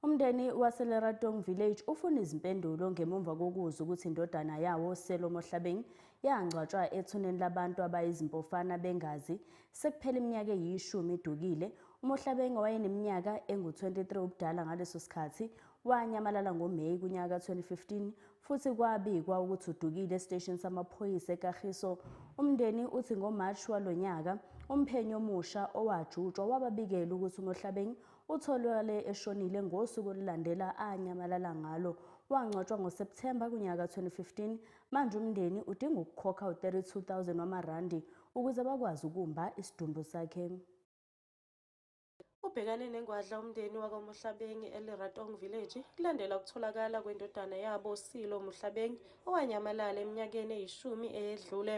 Umndeni waseLeratong Village ufuna izimpendulo ngemumva kokuzwa ukuthi indodana yawo Selo Mohlabeng yangcwatshwa ethuneni labantu abayizimpofana bengazi sekuphela iminyaka eyishumi idukile. UMohlabeng owayeneminyaka engu-23 ubudala ngaleso sikhathi wanyamalala ngoMeyi kunyaka ka-2015 futhi kwabikwa ukuthi udukile esiteshini samaphoyisa eKagiso. Umndeni uthi ngoMarch walo nyaka umphenyi omusha owajutshwa wababikela ukuthi uMohlabeng Utholakale eshonile ngosuku olulandela anyamalala ngalo. Wangcwatshwa ngoSepthemba kunyaka ka-2015. Manje umndeni udinga ukukhokha u-32000 wamarandi ukuze bakwazi ukumba isidumbu sakhe. Ubhekane nengwadla umndeni wakwaMohlabeng eLeratong Village kulandela ukutholakala kwendodana yabo uSilo Mohlabeng owanyamalala eminyakeni eyishumi eyedlule.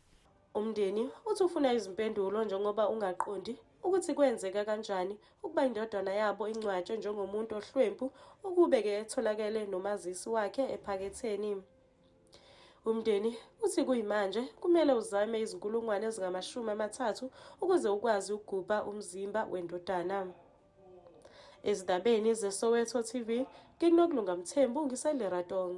Umndeni uthi ufuna izimpendulo njengoba ungaqondi ukuthi kwenzeka kanjani ukuba indodana yabo ingcwatshwe njengomuntu ohlwempu ukube-ke etholakele nomazisi wakhe ephaketheni. Umndeni uthi kuyimanje kumele uzame izinkulungwane ezingamashumi amathathu ukuze ukwazi ukugubha umzimba wendodana. Ezindabeni zeSoweto TV, nginokulunga Mthembu ngiseLeratong.